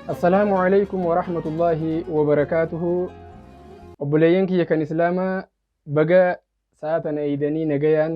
assalaamu alaykum warahmatullaahi wabarakaatuhu obboleeyyan kiyya kan islaamaa baga sa'a tana eeydanii nagayaan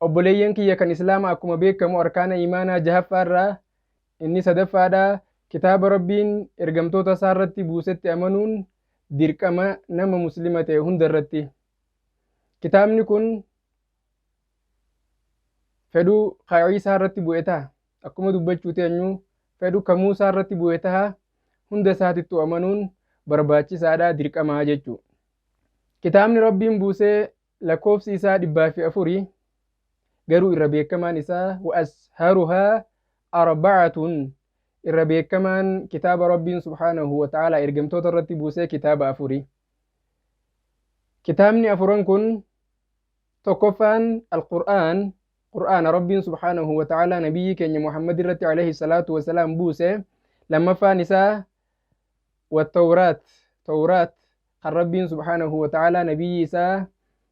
Obboleeyyan kiyya kan Islaama akkuma beekkamu arkaana iimaanaa jahaffaarraa inni sadaffaadha, kitaaba Rabbiin ergamtoota Isaarratti buusetti amanuun dirqama nama Muslima ta'e hundarratti. Kitaabni kun fedhu ka Iisaarratti bu'e taha, akkuma dubbachuu teenyu fedhu ka Muusaarratti bu'e taha, hunda isaatittuu amanuun barbaachisaadha, dirqamaa jechuu. Kitaabni Rabbiin buusee Lakkoofsi isaa dhibbaa fi afuri, garuu irra beekamaan isaa wa asharuhaa arbacatun irra beekamaan kitaaba Rabbiin subhaanahu wa ta'aalaa ergamtoota irratti buusee kitaaba afuri. Kitaabni afuran kun tokkoffaan Al-Qur'aan, Qur'aana Rabbiin subhaanahu wa ta'aalaa nabiyyii keenya Muhammad irratti alayhi salaatu wa salaam buuse, lammaffaan isaa wa Tawraat, Tawraat kan Rabbiin subhaanahu wa ta'aalaa Nabiyyii isaa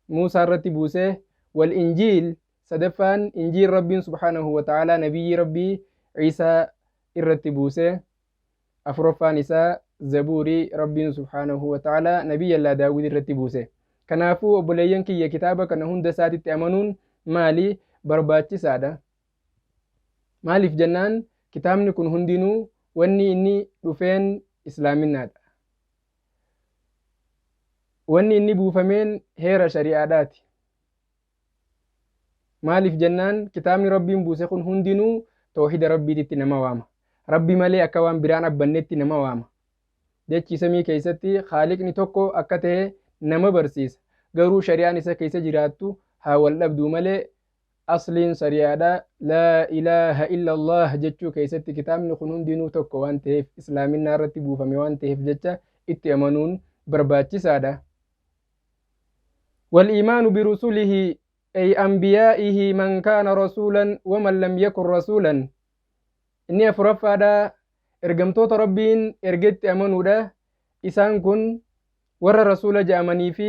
Muusaa irratti buuse, wal Injiil, sadaffaan Injiil Rabbiin subhaanahu wa ta'aalaa Nabiyyii Rabbii Iisaa irratti buuse, afuraffaan isaa Zabuurii Rabbiin subhaanahu wa ta'aalaa Nabiyyallaa Daawud irratti buuse. Kanaafuu obboleeyyan kiyya kitaaba kana hunda isaatitti amanuun maali? Barbaachisaadha. Maaliif jennaan kitaabni kun hundinuu wanni inni dhufeen Islaaminaadha. Wanni inni buufameen heera shari'aadhaati. Maaliif jennaan kitaabni Rabbiin buuse kun hundinuu toohida Rabbiititti nama waama. Rabbi malee akka waan biraan abbannetti nama waama. Dachii samii keessatti Khaaliqni tokko akka ta'e nama barsiisa. Garuu shari'aan isa keessa jiraattu haa wal dhabduu malee Asliin sari'aadha. Laa ilaaha illallaah jechuu keessatti kitaabni kun hundinuu tokko waan taheef, Islaaminaa irratti buufame waan taheef jecha itti amanuun barbaachisaadha. Wal-iimaanu birusulihi ay anbiyaa'ihi man kaana rasuulan wa man lam yakun rasuulan. Inni afuraffaadha. Ergamtoota Rabbiin ergetti amanuudha. Isaan kun warra rasuula ja'amanii fi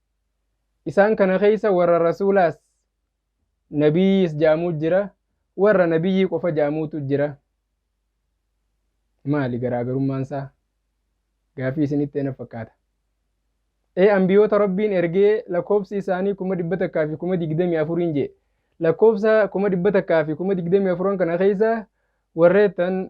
Isaan kana keessa warra rasuulaas nabiyyiis ja'amuu jira, warra nabiyyii qofa ja'amuutu jira. Maali garaagarummaan isaa? Gaafii isinitti ta'e na fakkaata. Ee anbiyoota Rabbiin ergee lakkoofsi isaanii kuma dhibba takkaa fi kuma digdamii afuriin jee. Lakkoofsa kuma dhibba takkaa fi kuma digdamii afuran kana keessa warreettan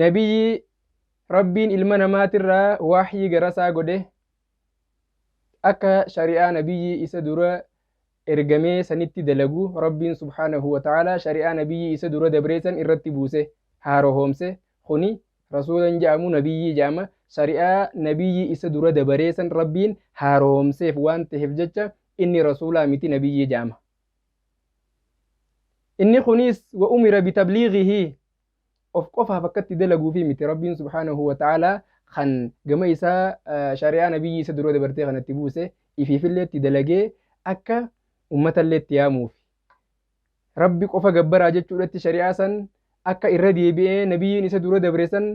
Nabiyyi Rabbiin ilma namaatirraa waahyii garasaa godhe akka shari'aa Nabiyyi isa dura ergamee sanitti dalagu Rabbiin subhaanahu wa ta'aalaa shari'aa Nabiyyi isa dura dabree san irratti buuse, haarohoomse, kuni Rasuula hin ja'amu Nabiyyii ja'ama, shari'aa Nabiyyi isa dura dabaree san Rabbiin haarohoomseef waan taheef jecha inni Rasuulaa miti Nabiyyii ja'ama. inni kuniis wa umira bitabliigihi of qofaaf akkatti dalaguufi miti rabbiin subhaanahu wa ta'aalaa kan gama isaa shari'aa nabiyyii isa dura dabartee kanatti buuse ifiifillee itti dalagee akka ummatallee itti yaamuufi rabbi qofa gabbaraa jechuudhatti shari'aa san akka irra deebi'ee nabiyyiin isa dura dabre san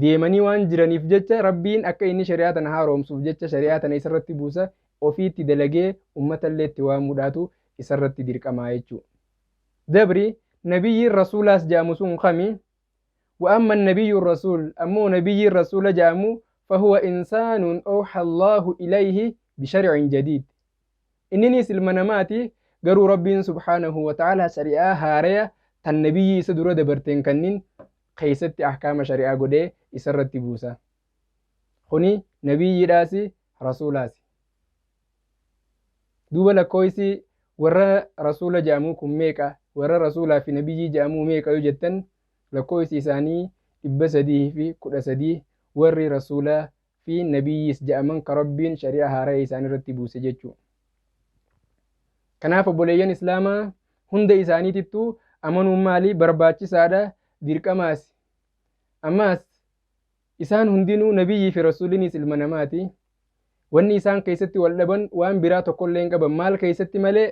deemanii waan jiraniif jecha Rabbiin akka inni shari'aa tana haaroomsuuf jecha shari'aa tana isarratti buusa ofiitti dalagee ummatallee itti waamuudhaatu isarratti dirqamaa jechuu. Dabri nabiyyiin rasuulaas ja'amu sun kami? Wa amma annabiyyu rasuul ammoo nabiyyiin rasuula ja'amu fahuwa insaanun awha Allaahu ilayhi bishar'in jadiid. Inniniis ilma namaati garuu Rabbiin subhaanahu wa ta'aalaa shari'aa haaraya tan nabiyyii isa dura dabarteen kanniin keessatti ahkaama shari'aa godhee isarratti buusa. Kuni nabiyyiidhaasi rasuulaasi. Duuba lakkooysi warra rasuula ja'amuu kun meeqa? Warra rasuulaa fi nabiyyii ja'amuu meeqa yoo jettan lakkooysi isaanii 313 warri rasuula fi Nabiyyiis ja'aman ka Rabbiin shari'aa haaraya isaan irratti buuse jechu. Kanaaf obboleeyyan Islaamaa hunda isaaniitittu amanuun maali? Barbaachisaadha, dirqamaasi. Ammaas isaan hundinuu Nabiyyii fi Rasuuliniis ilma namaati. Wanni isaan keessatti wal dhaban waan biraa tokkollee hin qaban. Maal keessatti malee?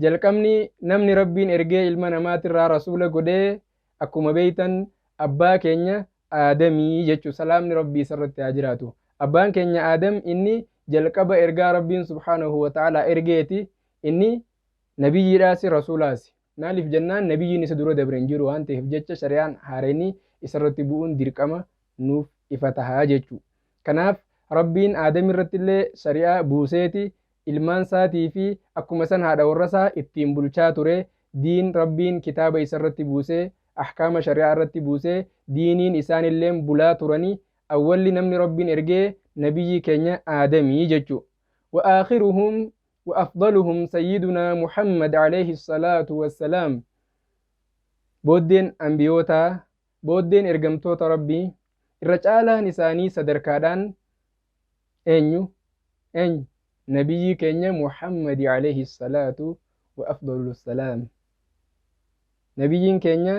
Jalqabni namni Rabbiin ergee ilma namaatirraa rasuula godhe akkuma beeytan abbaa keenya Aadami jechu salaamni Rabbii isarratti haa jiraatu. Abbaan keenya Aadam inni jalqaba ergaa Rabbiin subhaanahu wa ta'aalaa ergeeti. Inni nabiyyiidhaasi rasuulaasi. Maaliif jennaan nabiyyiin isa dura dabre hin jiru waan ta'eef jecha shari'aan haarayni isarratti bu'uun dirqama nuuf ifa taha jechu. Kanaaf Rabbiin Aadamirrattillee shari'aa buuseeti ilmaan isaatii fi akkuma san haadha warra isaa ittiin bulchaa ture, diin Rabbiin kitaaba isa irratti buusee, ahkaama shari'aa irratti buusee, diiniin isaanilleen bulaa turanii, awwalli namni Rabbiin ergee nabiyyii keenya Aadami jechu. Wa aakhiruhum wa afdaluhum sayyidunaa Muhammad aleyhi salaatu wassalaam. Booddeen anbiyootaa Booddeen ergamtoota Rabbii irra caalaan isaanii sadarkaadhaan eenyu? Eenyu? Nabiyyii keenya Muhammadi alayhi salaatu wa afdalu salaam. Nabiyyiin keenya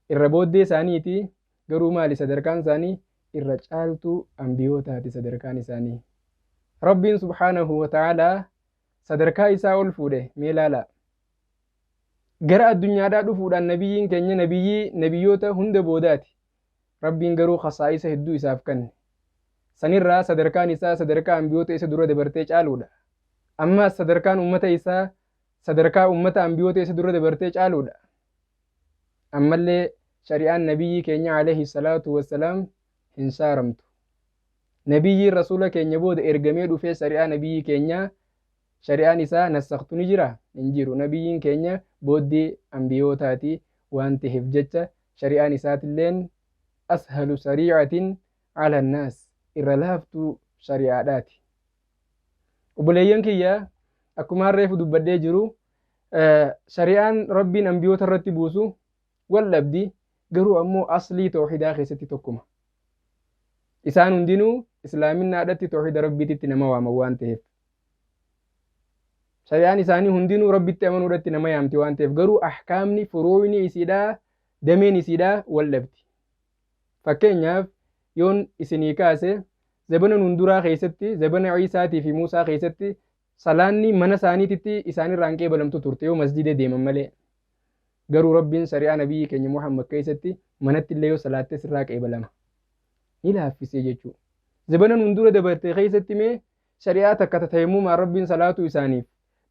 irra booddee isaaniiti garuu maali sadarkaan isaanii irra caaltuu anbiyootaati sadarkaan isaanii. Rabbiin subhaanahu wa ta'aalaa sadarkaa isaa ol fuudhe mee laalaa. Gara addunyaadhaa dhufuudhaan Nabiyyiin keenya Nabiyyii Nabiyyoota hunda boodaati. Rabbiin garuu khasaa'isa hedduu isaaf kanne. Sanirraa sadarkaan isaa sadarkaa Anbiyoota isa dura dabartee caaluudha. Ammaas sadarkaan ummata isaa sadarkaa ummata Anbiyoota isa dura dabartee caaluudha. Ammallee shari'aan Nabiyyii keenya alayhi salaatu wassalaam hin shaaramtu. Nabiyyiin Rasuula keenya booda ergamee dhufee shari'aa Nabiyyii keenyaa Shari'aan isaa nassaktu ni jiraa? Hin jiru. Nabiyyiin keenya booddee anbiyootaati waan taheef jecha shari'aan isaatilleen ashalu sarii'atin ala naas, irra laaftuu shari'aadhaati. Obboleeyyan kiyya akkumaan reefu dubbadhee jiru shari'aan Rabbiin anbiyoota irratti buusu wal dhabdi garuu ammoo aslii towhidaa keessatti tokkuma. Isaan hundinuu islaaminnaadhatti towhida Rabbiititti nama waaman waan taheef. Shari'aan isaanii hundinuu Rabbitti amanuudhatti nama yaamti waan taheef garuu ahkaamni furuuyni isiidhaa dameen isiidhaa wal dhabdi. Fakkeenyaaf yoon isinii kaase zabana nun duraa keessatti zabana Ciisaatii fi Muusaa keessatti salaanni mana isaaniititti isaanirraa hin qeebalamtu turte yoo masjida deeman malee. Garuu Rabbiin shari'aa Nabiyyii keenya Muhammad keessatti manatti illee yoo salaatte sirraa qeebalama. Ni laaffisee jechuu. Zabana nuun dura dabarte keessatti mee shari'aa takka ta tayammumaan Rabbiin salaatuu isaaniif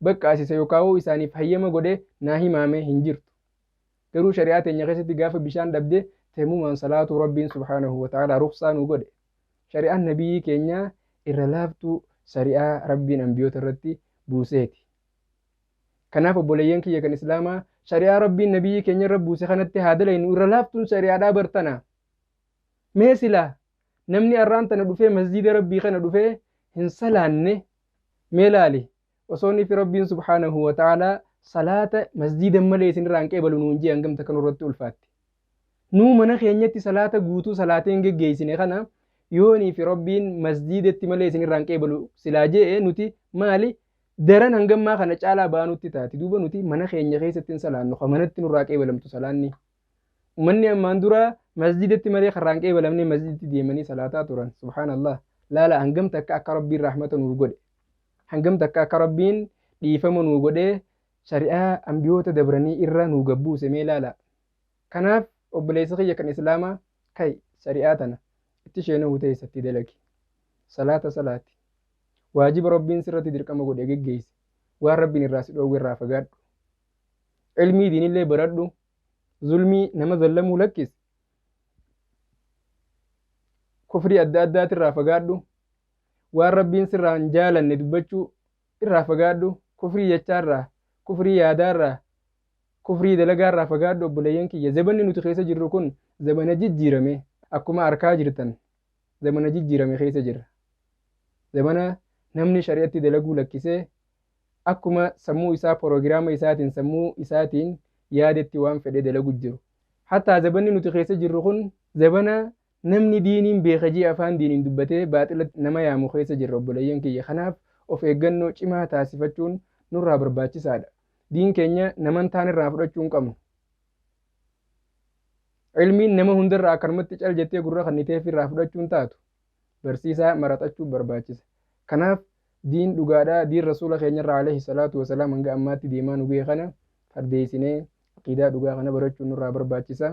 baqqaasise yookaawuu isaaniif hayyama godhe naa himaamee hin jirtu. Garuu shari'aa teenya keessatti gaafa bishaan dhabde tayammumaan salaatuu Rabbiin subhaanahu wa ta'aalaa ruqsaa nuu godhe. Shari'aan Nabiyyii keenyaa irra laaftuu shari'aa Rabbiin anbiyoota irratti buuseeti. Kanaaf obboleeyyan kiyya kan Islaamaa shari'aa Rabbiin Nabiyyii keenya irra buuse kanatti haa dalaynu irra laaftuun shari'aadhaa bar tana. Mee silaa namni arraan tana dhufee masjiida Rabbii kana dhufee hin salaanne mee laali osoo nifi Rabbiin subhaanahu wa ta'aalaa salaata masjiidan malee isin irraa hin qeebalu nuun jee hangam takka nurratti ulfaatti. Nuu mana keenyatti salaata guutuu salaatee hin geggeessine kana yoo nifi Rabbiin masjiidatti malee isin irraa hin qeebalu silaa je'e nuti maali daran hanga ammaa kana caalaa ba'aa nutti taati. Duuba nuti mana keenya keessatti hin salaannu, ka manatti nurraa qeebalamtu salaanni. Ummanni ammaan dura masjidatti malee karraa hin qeebalamne masjidatti deemanii salaataa turan. Subhaanallah. Laala hangam takka akka Rabbiin rahmata nuuf godhe. Hangam takka akka Rabbiin dhiifama nuu godhee shari'aa ambiyoota dabranii irra nuu gabbuuse mee laala. Kanaaf obboleessa kiyya kan Islaamaa kai shari'aa tana itti sheenuu teessatti dalagi. Salaata salaati. Waajiba Rabbiin sirratti dirqama godhe geggeessi. Waan Rabbiin irraa si dhoowwe irraa fagaadhu. Ilmii diinillee baradhu. Zulmii nama zallamuu lakkisi. Kufrii adda addaati irraa fagaadhu. Waan Rabbiin sirraa hin jaalanne dubbachuu irraa fagaadhu. Kufrii jechaa irraa, kufrii yaadaa irraa, kufrii dalagaa irraa fagaadhu obboleeyyan kiyya. Zabanni nuti keessa jirru kun zabana jijjiirame. Akkuma arkaa jirtan zamana jijjiirame keessa jirra. Zamana namni shari'atti dalaguu lakkisee akkuma sammuu isaa porogiraama isaatiin sammuu isaatiin yaadetti waan fedhe dalagu jiru. Hattaa zabanni nuti keessa jirru kun zabana namni diiniin beeka jee afaan diiniin dubbatee baaxilatti nama yaamu keessa jirra obboleeyyan kiyya. Kanaaf of eeggannoo cimaa taasifachuun nurraa barbaachisaadha. Diin keenya namantaan irraa fudhachuu hin qabnu. Ilmiin nama hundarraa akkanumatti cal jettee gurra kanniteef irraa fudhachuun taatu. Barsiisaa maraxachuu barbaachisa. Kanaaf diin dhugaadhaa diin rasuula keenyarraa alayhi salaatu wasalaam hanga ammaatti deemaa nu ga'e kana fardeessinee aqiidaa dhugaa kana barachuun nurraa barbaachisa.